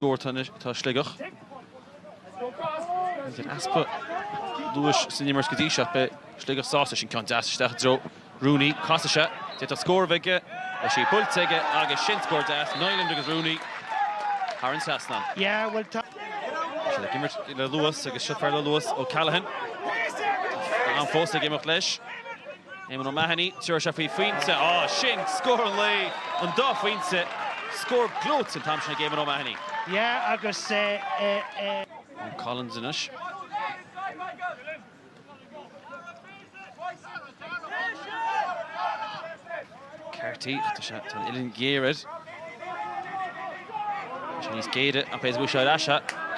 Dúirt anois atá Sligeach ag an easpa luais san imirt go dtí seo, beidh Sligeach sásta sin ceann deas isteach i dtreo Rooney. Casann sé, d'fhéadfadh scór a bheith aige, tá sí buailte aige agus sin scór deas, Niland agus Rooney thar an trasnán. Yeah, well tá. Tá siad ag imirt le luas agus seo fear le luas, O'Callaghan, tá sé fós ag imeacht leis. Éamonn O'Mahony, tabharfaidh sé faoi phointe. Á, sin scór an lae, an dá phointe. Scór gleoite an t-am sin ag Éamonn O'Mahony. Yeah, agus Eoin Collins anois. Carthy, ach tá an uillinn ghéar air. Tá sé níos géire, ach b'fhéidir go bhfuil sé ar ais.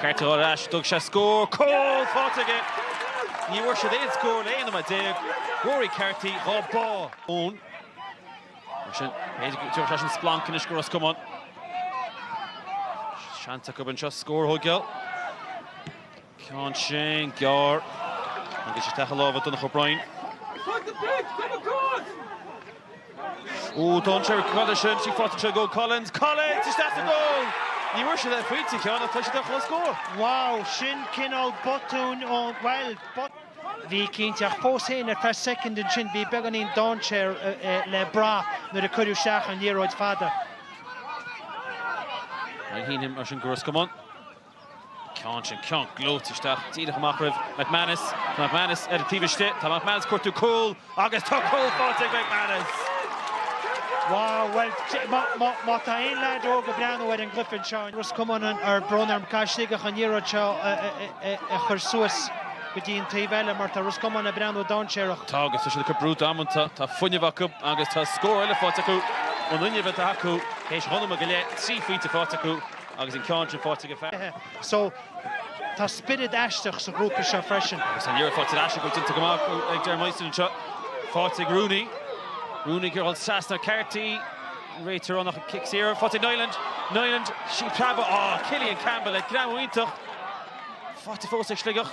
Carthy ar ais, dtug sé scór, cúl faighte aige! Ní bhfuair siad aon scór le 11 nóiméad. Rory Carthy, dhá bá ón. Mar sin, b'fhéidir go dtiocfadh leis an splanc anois go Ros Comáin. Seans acu anseo scór a thógáil. Ceann sin gearr agus isteach i lámha Donncha O'Brien. Ó, d'fhan sé ar an gcroideadh sin, tá sí faighte ag Collins. Collins isteach sa gcúl! Ní bhfuair sé leith pointe cheana ach tá siad ar chúl scór. Wow, sin cineál botúin ón, bhuel, botún. Bhí cinnte, ach fós féin ar feadh soicind ansin bhí beagáinín dainséir le brath nuair a cuireadh isteach an liathróid fada. Ainmhínm, mar sin, go Ros Comáin. ceann sin ceann gleoite isteach díreach amach roimh McManus. Tá McManus ar an taobh istigh. Tá McManus ag cuartú cúl agus tá cúl faighte ag McManus! Wow, bhuel, má tá aon leaid óg ag breathnú ar an gcluiche anseo, Ros Comáin ar, brón orm, caithfidh Sligeach an liathróid seo a chur suas go dtí an taobh eile mar tá Ros Comáin ag breathnú dainséarach. Tá agus tá siad ag cur brú damanta, tá fuinneamh acu agus tá scór eile faighte acu ón fhuinneamh atá acu théis dhá nóiméad go leith, trí phointe faighte acu. Agus an ceann sin faighte acu. So, tá spiorad aisteach sa ghrúpa seo freisin. Agus tá an liathróid faighte ar ais acu, déanta go maith ag Darren Winston anseo. Faighte ag Rooney. Rooney ag dhul trasna ar Carthy. Réiteoir ag rá nach cic saor. Faighte ag Niland. Niland, sí ag preabadh. Á, Cillian Campbell ag greamú iontach. Faighte fós ag Sligeach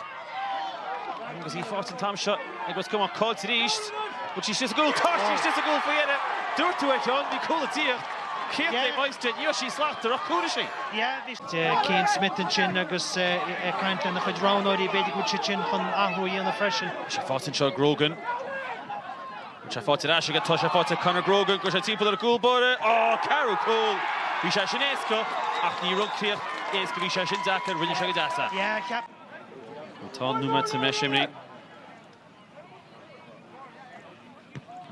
agus tá sí faighte an t-am seo ag Ros Comáin. Caillte arís. Tá sí istigh sa gcúl. Caillte arís, sí sa gcúl faoi dheireadh. Dúirt tú é a Sheáin bhí cúl ag tíocht. Cén taobh shaghas de? Ní raibh sí slachtmhar ach cúl ar sí. Yeah, Cian Smith ansin agus ag caint lena chuid roghnóirí, b'fhéidir go bhfuil siad sin chun athrú a dhéanamh freisin. Tá sí faighte anseo ag Grogan. Is tá fáilte ar ais aige? Tá sé fáilte ag Conor Grogan go raibh sé timpeall an chúl báire. Á, Carraig Chúl! Bhí sé sin éasca ach an críoch, bhí sé sin deacair, rinne sé go deas é. Tá an nóiméad imithe?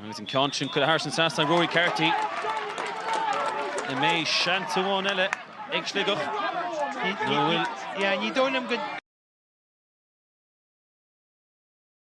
Agus an ceann sin curtha ard san seastán ag Rory Carty. An mbeidh seans amháin eile ag Sligeach nó bhfuil. Ní dóigh liom go.